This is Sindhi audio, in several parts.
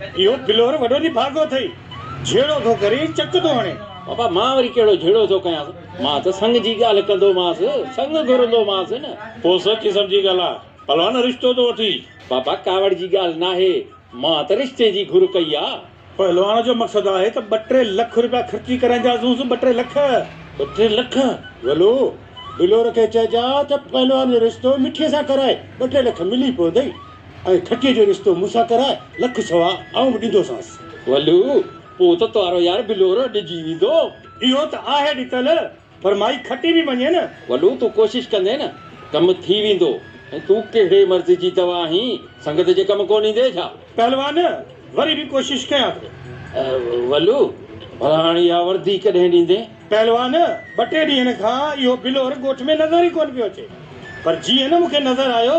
اهو ڦلور وڏو ني ڀاڳو ٿئي، جهيڙو ٿو ڪري، چڪ ٿو هڻي. بابا مان وري ڪهڙو جهيڙو ٿو ڪيانس، مان ته سڱ جي ڳالهه ڪندومانس، سڱ گهرندومانس نه. پوء سوچي سمجهي ڳالهاء، پلوان رشتو ٿو وٺي. بابا ڪاوڙ جي ڳالهه ناهي، مان ته رشتي جي گهر ڪئي آ. پلوان جو مقصد آهي ته ٻه ٽي لک روپيا خرچي ڪرائينداسونس، ٻه ٽي لک. ٻه ٽي لک؟ ولو، ڀلور کي چئجان ته پلوان جو رشتو مٺيء سان ڪرائي، ٻه ٽي لک ملي پوندئي. ۽ ٺٽي جو رستو مون سان ڪرائي، لک سوا آئون به ڏيندوسانس. ولو، پوء ته تنهارو يار بلورو ڏجي ويندو. اهو ته آهي ڏتل، پر مائي کٽي به وڃي نه. ولو، تون ڪوشش ڪندين نه، ڪم ٿي ويندو. ۽ تون ڪهڙي مرض جي دوا آهين، سنگت جي ڪم ڪونه ايندين ڇا؟ پهلوان، وري به ڪوشش ڪيان ٿو. ولو، ڀلا هاڻ اها وردي ڪڏهن ڏيندين؟ پهلوان، ٻه ٽي ڏينهن کان اهو بلور ڳوٺ ۾ نظر ئي ڪونه پيو اچي، پر جيئن نه مون کي نظر آيو،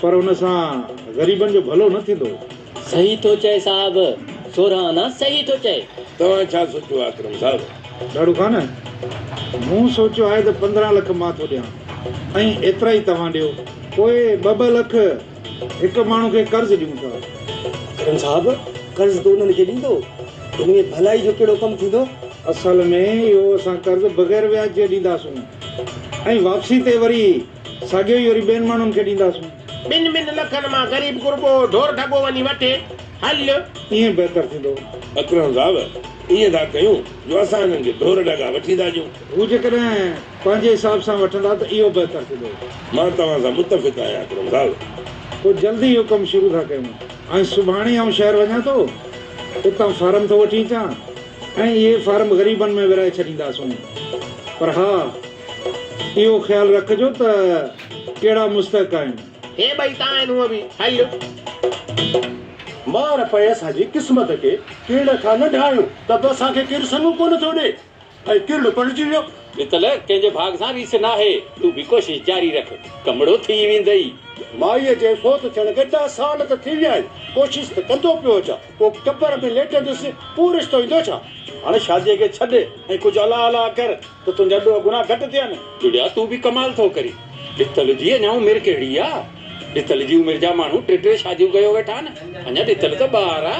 پر ان سان غريبن جو ڀلو نه ٿيندو. صحيح ٿو چئي صاحب. سورهن انا صحيح ٿو چئي. توهان ڇا سوچيو آهي اڪرم صاحب؟ ڏاڙهو خان، مون سوچيو آهي ته پندرهن لک مان ٿو ڏيان ۽ ايترا ئي توهان ڏيو. پوء ٻه ٻه لک هڪ ماڻهو کي قرض ڏيون ٿا. اڪرم صاحب، قرض تون انهن کي ڏيندو؟ ان ۾ ڀلائي جو ڪهڙو ڪم ٿيندو؟ اصل ۾ اهو اسان قرض بغير وياج جي ڏينداسون ۽ واپسي تي وري. ساڳيو ئي وري ٻين ماڻهن کي ڏينداسون. ٻن ٻن لکن مان غريب غربو ڍور ڍڳو وڃي وٺي. هل! ائين بهتر ٿيندو. اڪرم صاحب! ائين ٿا ڪيون جو اسان هنن کي ڍور ڍڳا وٺي ٿا ڏيون. هو جيڪڏهن پنهنجي حساب سان وٺندا ته اهو بهتر ٿيندو. مان توهان سان متفق آهيان اڪرم صاحب. پوء جلدي اهو ڪم شروع ٿا ڪيون. ۽ سڀاڻي آئون شهر وڃان ٿو. اتان فارم ٿو وٺي اچان ۽ اهي فارم غريبن ۾ ورهائي ڇڏينداسون. پر ها! اهو خيال رکجو ته ڪهڙا مستحق آهن. هي ٻئي تان آهن هونء به هل. مار پئي اسان جي قسمت کي ڪرڙ کان نه ڊاهيون ته به اسان کي ڪير سڱو ڪونه ٿو ڏي ۽ ڪرڙ پڙهجي ويو. متل ڪنهنجي ڀاڳ سان ريس ناهي تون به ڪوشش جاري رک ڪمڙو ٿي ويندئي. مائيء جي فوت ٿيڻ کي ڏهه سال ته ٿي ويا آهن ڪوشش ته ڪندو پيو اچان پوء قبر ۾ ليٽندس پوء رشتو ايندو ڇا. هاڻ شاديء کي ڇڏ ۽ ڪجهه الا الا ڪر. ته تنهنجا ڏوهه گناهه گهٽ ٿين. ٽوڏيا تون به ڪمال ٿو ڪرين. ڏتل جي اڃا عمر ڪهڙي آ. ڏتل جي عمر جا ماڻهو ٽي ٽي شاديون ڪيو ويٺا آهن. اڃا ڏتل ته ٻار آ.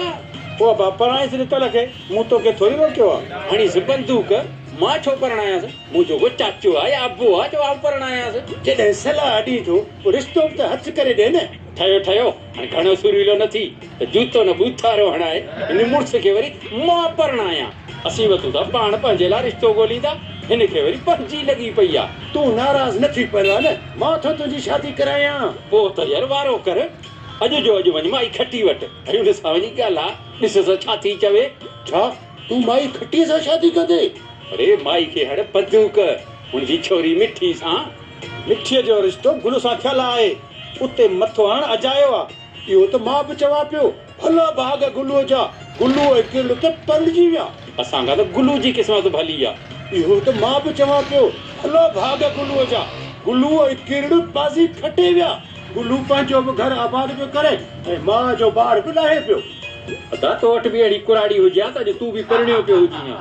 او ابا پرڻائيس ڏتل کي. مون توکي ٿوري روڪيو آ. هڻيس بندوق. مان ڇو پرڻايانس. منهنجو ڪو چاچو آ يا ابو آ جو آئون پرڻايانس. جڏهن صلاح ڏين ٿو. پوء رشتو به ته هٿ ڪري ڏي نه. ٺهيو ٺهيو. هاڻي گهڻو سريلو نه ٿي ته جوتو نه ٻوٿارو هڻائي هن مڙس کي وري مان پرڻايان. اسين وتون ٿا پاڻ پنهنجي لاء رشتو ڳوليندا هن کي وري پنهنجي لڳي پئي آ. تون ناراض نه ٿي پرواهه نه مان ٿو تنهنجي شادي ڪرايان. پوء ته ير وارو ڪر اڄ جو اڄ وڃ مائي کٽي وٽ ۽ ان سان وڃي ڳالهاء ڏسس ڇا ٿي چوي. ڇا تون مائي کٽي سان شادي ڪندين؟ اڙي مائي کي هڙ بندوق هن جي ڇوري مٺي سان. مٺي جو رشتو گل سان ٿيل آهي. اتي مٿو هڻ اجايو آ. اهو ته مان به چوان پيو. ڀلا ڀاڳ گلوء جا، گلوء جي ڪرڙ تي پلجي ويا. اسان کان ته گلوء جي قسمت ڀلي آ. اهو ته مان به چوان پيو. ڀلا ڀاڳ گلوء جا، گلوء جي ڪرڙ بازي کٽي ويا. گلو پنهنجو به گهر آباد پيو ڪري ۽ ماء جو بار به لاهي پيو. ادا تو وٽ به اهڙي ڪراڙي هجي ها ته اڄ تون به پرڻيو پيو هجين ها.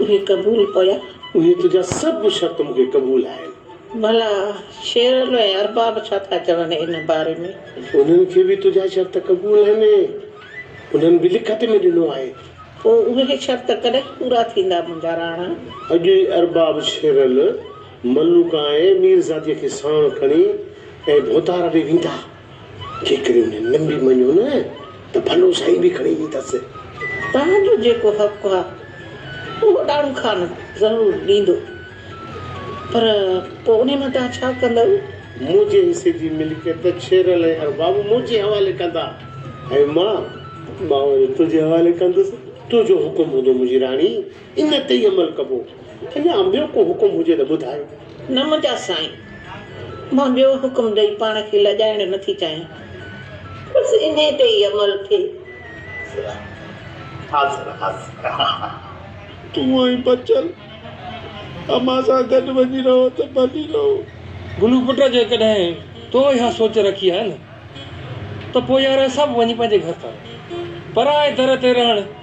اهي قبول ڪيا. اهي تنهنجا سڀ شرط مون کي قبول آهن. ڀلا شيرن ۽ ارباب ڇا ٿا چون ان باري ۾؟ انهن کي به تنهنجا شرط قبول آهن ۽ انهن به لکت ۾ ڏنو آهي. پوء اهي شرط ڪڏهن پورا ٿيندا منهنجا راڻا؟ اڄ ئي ارباب شيرن، ملوڪان ۽ ميرزاديء کي ساڻ کڻي ۽ ڀوتار ڏي ويندا. جي ڪري انهن نم به مڃيو نه ته ڀلو سائين به کڻي ايندس. توهان جو جيڪو حق آهي اهو ڏاڙهو خان ضرور ڏيندو پر پوء انهي مان توهان ڇا ڪندؤ؟ منهنجي حصي جي ملڪيت شيرل ۽ ارباب منهنجي حوالي ڪندا ۽ مان ٻانهون جو تنهنجي حوالي ڪندس. تنهنجو حڪم هوندو منهنجي راڻي. ان تي ئي عمل ڪبو. اڃا ٻيو ڪو حڪم هجي ته ٻڌايو. نه منهنجا سائين! مان ٻيو حڪم ڏئي پاڻ کي لڄائڻ نه ٿي چاهيان. بس انهي تي ئي عمل ٿئي. حاضر حاضر. تون ۽ بچل امان سان گڏ وڃي رهو ته ڀلي رهو. گلو پٽ جيڪڏهن تو اها سوچ رکي آهي نه ته پوء يار اسان به وڃي پنهنجي گهر ٿا رهون. پرائي در تي رهڻ.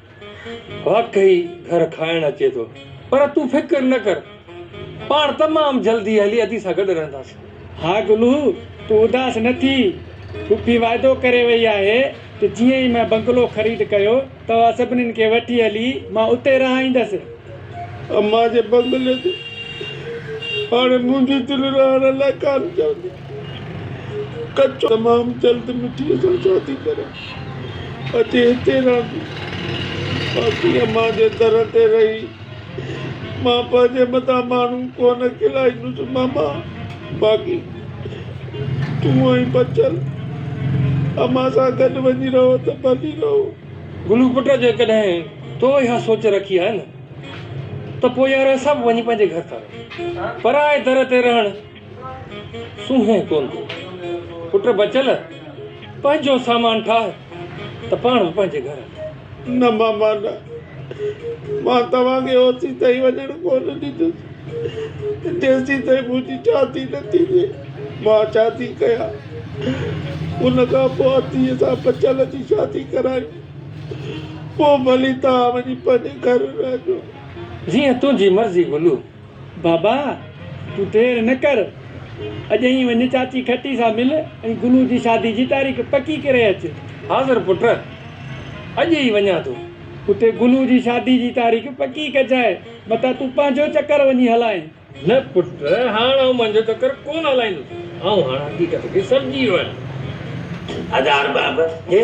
واقعي گهر کائڻ اچي ٿو. پر تون فڪر نه ڪر. پاڻ تمام جلدي هلي ادي سان گڏ رهنداسين. ها گلو، تون اداس نه ٿي. ڦوڦي وعدو ڪري وئي آهي ته جيئن ئي مان بنگلو خريد ڪيو، توهان سڀني کي وٺي هلي مان اتي رهائيندس. امان جي بنگلي تي هاڻي منهنجي دل رهڻ لاء ڪانه چوندي. ڪچو تمام جلد مٽيء سان ڇا ٿي ڪريان؟ اچي هتي رهندي. باقي امان جي در تي رهي مان پنهنجي مٿان ماڻهو ڪونه کلائيندس ماما. باقي تون ۽ بچل امان سان گڏ وڃي رهو ته ڀلي رهو. گلو پٽ جيڪڏهن تو اها سوچ رکي آهي نه ته پوء يار اسان به وڃي پنهنجي گهر ٿا رهون. پرائي در تي رهڻ سونهن ڪونه ٿو پٽ بچل پنهنجو سامان ٺاهه ته پاڻ به پنهنجي گهر هل. نه ماما نه مان توهان کي اوسين تائين وڃڻ ڪونه ڏيندس جيسين تائين منهنجي شادي نه ٿيندي مان شادي ڪيان ان کان پوء اديء سان بچل جي شادي ڪرائين پوء ڀلي توهان وڃي پنهنجي گهر رهجو. جيئن تنهنجي مرضي گلو. بابا! تون دير نه ڪر، اڄ ئي وڃ چاچي کٽي سان مل ۽ گلو جي شادي جي تاريخ پڪي ڪري اچ. حاضر پٽ! اڄ ئي وڃان ٿو. اتي گلو جي شادي جي تاريخ پڪي ڪجانء، متان تون پنهنجو چڪر وڃي هلانء. نه پٽ، هاڻ آئون منهنجو چڪر ڪونه هلائيندس. آئون هاڻ حقيقت کي سمجهي ويو آهيان. حاضر بابا! هي!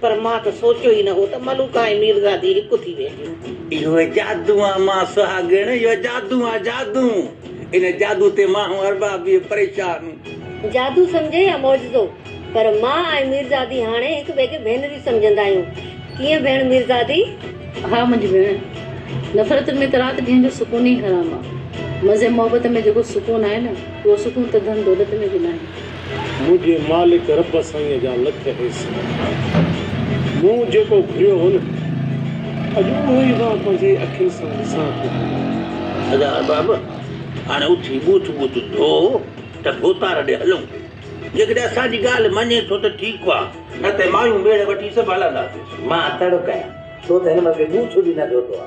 پر مان ته سوچيو ئي نه هو ته ملوڪ ۽ ميرزادي هڪ ٿي وينديون. اهو جادو آ مان سهاڳڻ، اهو جادو آ جادو. ان جادو تي مان هون ارباب به پريشان. جادو سمجهي يا معجزو پر مان ۽ ميرزادي هاڻي هڪ ٻئي کي ڀينريون سمجهندا آهيون. ڪيئن ڀيڻ ميرزادي؟ ها منهنجي ڀيڻ. نفرت ۾ ته رات ڏينهن جو سڪون ئي حرام آ. مزي محبت ۾ جيڪو سڪون آهي نه، اهو سڪون ته ڌن دولت ۾ به ناهي. منهنجي مالڪ رب سائينء جا لک احسان. مون جيڪو گهريو هو نه، اڄ اهو ئي مان پنهنجي اکين سان ڏسان ٿو. ادا ارباب، هاڻي اٿي ٻوٿ ٻوٿ ڌو ته ڀوتار ڏي هلون. جيڪڏهن اسان جي ڳالهه مڃين ٿو ته ٺيڪ آ، نه ته مايون ميڙ وٺي سڀ هلنداسين. مان تڙو ڪيان، تو ته هن ملڪي ٻوٿ به نه ڌوتو آ.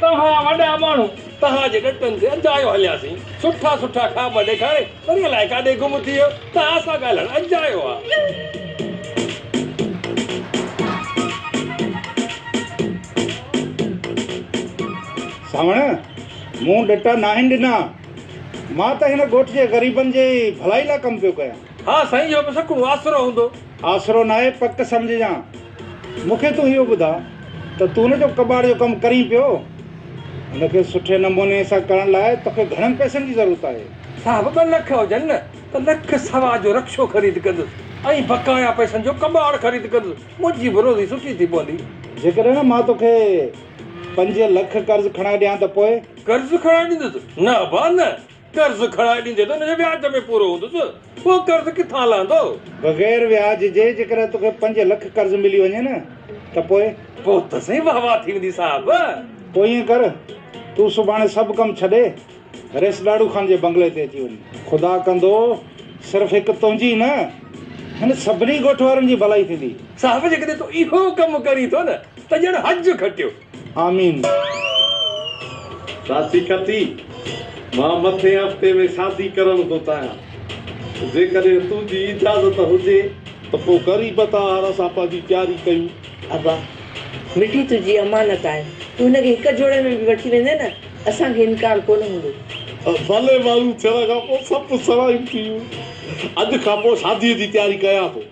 توهان وڏا ماڻهو توهان جي ڏٽن تي اجايو هلياسين سٺا سٺا خواب ڏيکاري وري الائي ڪاڏي گم ٿي ويو توهان سان ڳالهائڻ اجايو آ. سانوڻ، مون ڏٽا ناهن ڏنا مان ته هن ڳوٺ جي غريبن جي ڀلائي لاء ڪم پيو ڪيان. ها سائين اهو به سٺو آسرو هوندو. آسرو ناهي پڪ سمجهجان. مون کي تون اهو ٻڌاء ته تون نه جو ڪٻاٽ جو ڪم ڪرين پيو ان کي سٺي نموني سان ڪرڻ لاء توکي گهڻن پئسن جي ضرورت آهي. صاحب ٻه لک هجن نه ته لک سوا جو رڪشو خريد ڪندس ۽ بقايا پئسن جو ڪٻاٽ خريد ڪندس منهنجي به روزي سٺي ٿي پوندي. جيڪڏهن مان توکي پنج لک قرض کڻائي ڏيان ته پوء؟ قرض کڻائي ڏيندس نه ابا نه. قرض کڻائي ڏيندي ته ان جي وياج ۾ پورو هوندس، اهو قرض ڪٿان لهندو؟ بغير وياج جي جيڪڏهن توکي پنج لک قرض ملي وڃي نه ته پوء؟ پوء ته سائين واه واه ٿي ويندي صاحب. پوء ائين ڪر، تون سڀاڻي سڀ ڪم ڇڏي، ريس ڏاڙهو خان جي بنگلي تي اچي وڃ. خدا ڪندو، صرف هڪ تنهنجي ئي نه، هن سڀني ڳوٺ وارن جي ڀلائي ٿيندي. صاحب جيڪڏهن تون اهو ڪم ڪرين ٿو نه ته ڄڻ حج کٽيو. آمين. ساٿي ڪتي، مان مٿين هفتي ۾ شادي ڪرڻ ٿو چاهيان. جيڪڏهن تون جي اجازت هجي ته پوء وري به توهان هر اسان پنهنجي تياري ڪيون. ابا، مٺي تنهنجي امانت آهي. تون هن کي هڪ جوڙي ۾ به وٺي ويندين نه، اسان کي انڪار ڪونه هوندو. ڀلي ماڻهو ٿيڻ کان پوء سڀ سوائيون ٿيون. اڄ کان پوء شاديء جي تياري ڪيان ٿو.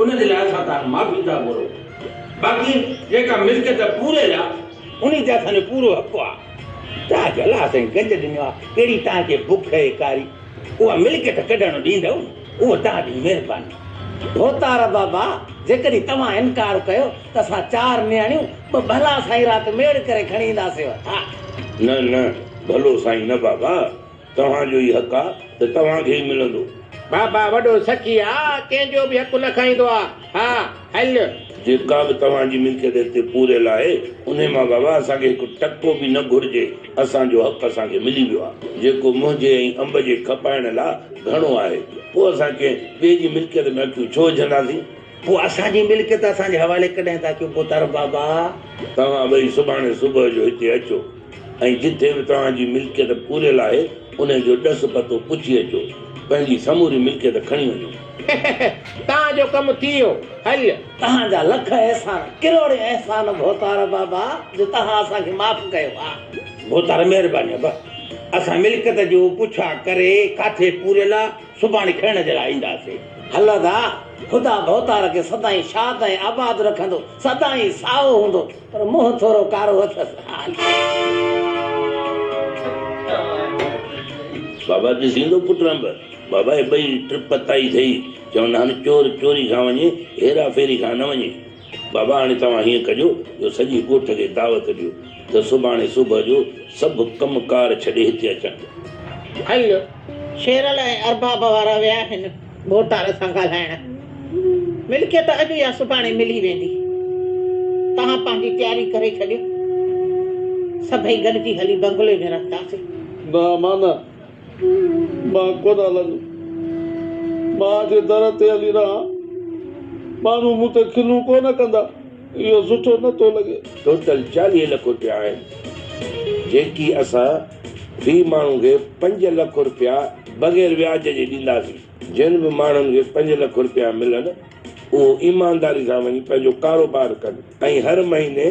ان جي لاء اسان تان معافي ٿا گهرون باقي جيڪا ملڪيت پوري آ انهي تي اسان جو پورو حق آ. تاج الله سائين گنج ڏنو آ ڪهڙي تان کي بک اهي ڪاري اها ملڪيت ڪڍڻ ڏيندؤ اهو تان جي مهرباني. ڀوتار بابا جيڪڏهن توهان انڪار ڪيو ته اسان چار نياڻيون ٻه ڀلا سائين رات ميڙ ڪري کڻي اينداسينو. ها. نه نه ڀلو سائين نه بابا. توهان جو ئي حق آ ته توهان کي ئي ملندو. بابا وڏو سخي آ، ڪنهن جو به حق نه کائيندو آ. ها هل. جيڪا به توهان جي ملڪيت هتي پوريل آهي، انهي مان بابا اسان کي هڪ ٽڪو به نه گهرجي، اسان جو حق اسان کي ملي ويو آ، جيڪو منهنجي ۽ انب جي کپائڻ لا گهڻو آهي، پوء اسان ڪنهن ٻئي جي ملڪيت ۾ اکيون ڇو وجهنداسين؟ پوء اسان جي ملڪيت اسان جي حوالي ڪڏهن ٿا ڪيو پوتارو بابا؟ توهان ٻئي سڀاڻي صبح جو هتي اچو ۽ جتي به توهان جي ملڪيت پوريل آهي انهي جو ڏس پتو پڇي اچو. پنهنجي سموري ملڪيت کڻي وڃو. هههه توهان جو ڪم ٿي ويو. هل. توهان جا لک احسان، ڪروڙين احسان ڀوتارو بابا جو توهان اسان کي معاف ڪيو آ. ڀوتارو مهرباني آ. بس اسان ملڪيت جو پڇا ڪري ڪاٿي پوريل آ سڀاڻي کڻڻ جي لاء اينداسين. هل ادا! خدا ڀوتار کي سدائين شاد ۽ آباد رکندو. سدائين سائو هوندو، پر منهن ٿورو ڪارو اٿس. بابا ڏسيندو پٽ رنڀ؟ بابا هي ٻئي ٽپ تائي سهي. چون هن چور چوري کان وڃي، هيرا ڦيري کان نه وڃي. بابا هاڻي توهان هيئن ڪجو جو سڄي ڳوٺ کي دعوت ڏيو ته سڀاڻي صبح جو سڀ ڪم ڪار ڇڏي هتي اچڻ. هل، شيرل ۽ ارباب وارا ويا آهن ڀوتار سان ڳالهائڻ. ملڪيت اڄ يا سڀاڻي ملي ويندي. توهان پنهنجي تياري ڪري ڇڏيو. سڀئي گڏجي هلي بنگلي ۾ رهنداسين. نه امان نه. مان ڪونه هلندو. مان جي در تي هلي رهان، ماڻهو مون تي کلون ڪونه ڪندا. اهو سٺو نه ٿو لڳي. ٽوٽل چاليهه لک روپيا آهن، جيڪي اسان في ماڻهو کي پنج لک روپيا بغير وياج جي ڏينداسين. جن به ماڻهن کي پنج لک روپيا ملن، اهو ايمانداري سان وڃي پنهنجو ڪاروبار ڪن ۽ هر مهيني.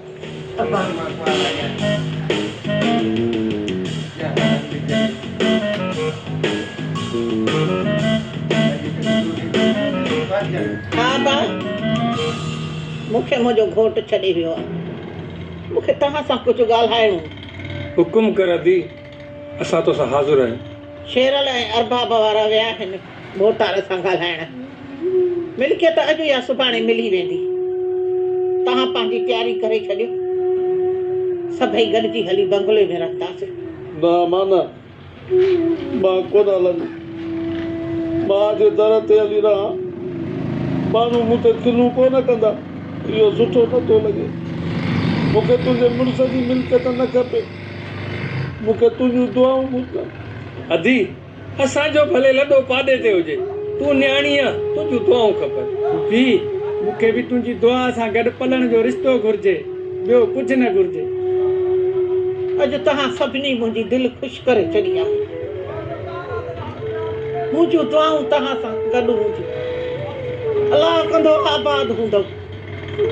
ها ابا، مون کي منهنجو گهوٽ ڇڏي ويو آهي. مون کي توهان سان ڪجهه ڳالهائڻو هو. حڪم ڪر ابي، اسان توسان حاضر آهيون. شيرل ۽ ارباب وارا ويا آهن. ڀوتار سان ڳالهائڻ. ملڪيت اڄ يا سڀاڻي ملي ويندي. توهان پنهنجي تياري ڪري ڇڏيو. سڀئي گڏجي هلي بنگلي ۾ رهنداسين. نه مانا، مان ڪونه هلندس. ماء جي در تي هلي رهان. ماڻهو مون تي کلون ڪونه ڪندا. اهو سٺو نه ٿو لڳي. مون کي تنهنجي مڙس جي ملڪيت نه کپي. مون کي تنهنجون دعائون گهرجن. ادي! اسان جو ڀلي لڏو پاڏي تي هجي، تون نياڻي آن، تنهنجون دعائون کپن. ڀي، مون کي به تنهنجي دعا سان گڏ پلڻ جو رشتو گهرجي، ٻيو ڪجهه نه گهرجي. اڄ توهان سڀني منهنجي دل خوش ڪري ڇڏي آهي. منهنجون دعائون توهان سان گڏ هونديون. الله ڪندو آباد هوندؤ.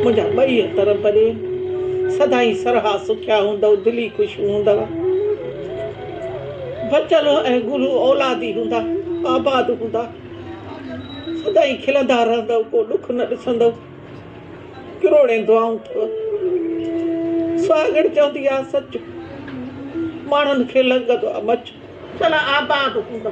منهنجا ٻئي اختر پري سدائين سرها سکيا هوندؤ دلي خوشيون هوندؤ بچل ۽ گلو اولادي هوندا آباد هوندا سدائين کلندا رهندؤ ڪو ڏک نه ڏسندؤ ڪروڙين دعائون اٿؤ سهاڳڻ چوندي آ سچ ماڻهن کي لڳندو آ مچ چلا آباد هوندا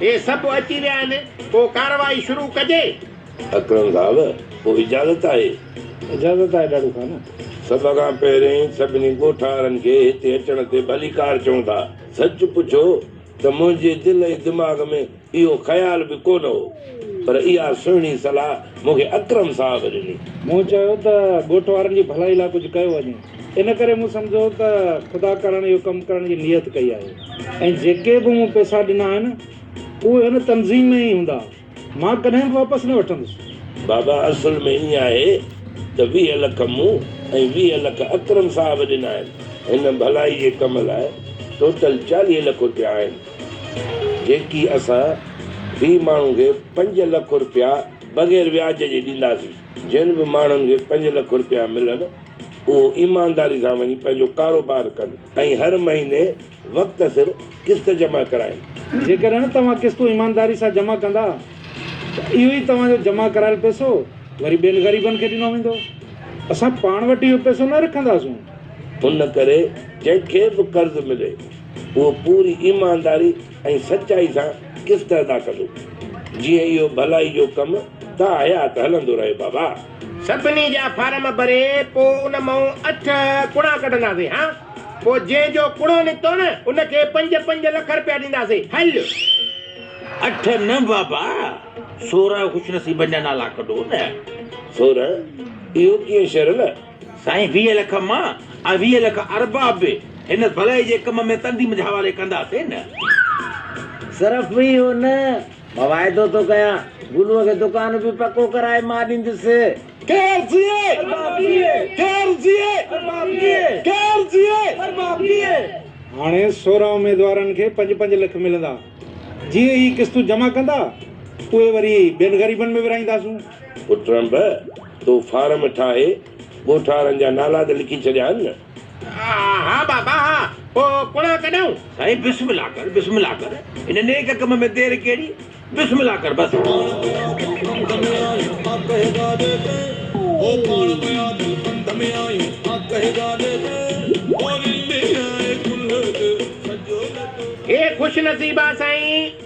هي سڀ اچي ويا آهن ڪو ڪارروائي شروع ڪجي. اڪرم صاحب ڪو اجازت آهي. اجازت آهي ڏاڏو خان. سڀ کان پهرين سڀني ڳوٺارن کي هتي اچڻ تي ڀليڪار چئون ٿا. سچ پڇو ته منهنجي دل ۽ دماغ ۾ اهو خيال به ڪونه هو پر اها سهڻي صلاح مون کي اڪرم صاحب ڏني. مون چيو ته ڳوٺ وارن جي ڀلائي لاء ڪجهه ڪيو وڃي. ان ڪري مون سمجهيو ته خدا ڪرڻ اهو ڪم ڪرڻ جي نيت ڪئي آهي ۽ جيڪي به مون پئسا ڏنا آهن، اهي هن تنظيم ۾ ئي هوندا، مان ڪڏهن به واپس نه وٺندس. بابا اصل ۾ ائين آهي ته ويهه لک مون ۽ ويهه لک اڪرم صاحب ڏنا آهن. هن ڀلائي جي ڪم لاء ٽوٽل چاليهه لک رپيا آهن، جيڪي اسان في ماڻهو کي پنج لک رپيا بغير وياج جي ڏينداسين. جن به ماڻهن کي پنج لک رپيا ملن، اهو ايمانداري سان وڃي پنهنجو ڪاروبار ڪن ۽ هر مهيني وقت سر قسط جمع ڪرائين. جيڪڏهن توهان قسطون ايمانداري سان جمع ڪندا ته اهو ئي توهان جو جمع ڪرايل پئسو وري ٻين غريبن کي ڏنو ويندو. اسان پاڻ وٽ اهو پئسو نه رکنداسون. ان ڪري جنهن کي به قرض ملي اهو پوري ايمانداري ۽ سچائي سان قسط ادا ڪندو. جيئن اهو ڀلائي جو ڪم تا حيات هلندو رهي بابا. سڀني جا فارم ڀري پو ان مئون اٺ ڪڻا ڪڍنداسين ها پو جنهن جو ڪڻو نڪتو نه ان کي پنج پنج لک رپيا ڏينداسين هل. اٺ نه بابا سورهن خوش نصيبن جا نالا ڪڍو نه. سورهن اهو ڪيئن شرل. سائين ويهه لک مان ۽ ويهه لک اربع به هن ڀلائي جي ڪم ۾ تندي منجهه حوالي ڪنداسين نه. صرف اهو نه واعدو ٿو ڪيان گلوء کي دڪان به پڪو ڪرائي مان ڏيندس. ڪير جيئي؟ ارباب جيئي. ڪير جيئي؟ ارباب جيئي. ڪير جيئي؟ ارباب جيئي. هاڻي سورهن اميدوارن کي پنج پنج لک ملندا. جيئن هي قسطون جمع ڪندا اهي وري ٻين غريبن ۾ ورهائينداسون. پٽ رنڀ تون فارم ٺاهي ڳوٺ وارن جا نالا ته لکي ڇڏيا آهن نه. ها بابا ها، پوء ڪڙا ڪڏائون؟ سائين بسم الله ڪر، بسم الله ڪر، هن نيڪ ڪم ۾ دير ڪهڙي، بسم الله ڪر بس. هي خوش نصيبا سائين!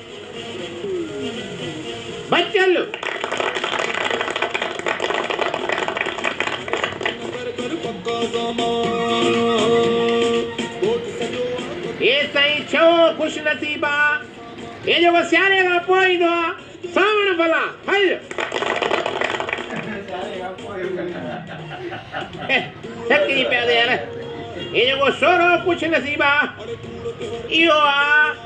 بچل ايستائين ڇهو خوش نصيب آ هي جيڪو سياري کان پوء ايندو آ سانوڻ ڀلا ڦل سچي پيا ته يار هي جيڪو سورهو خوش نصيب آ اهو آ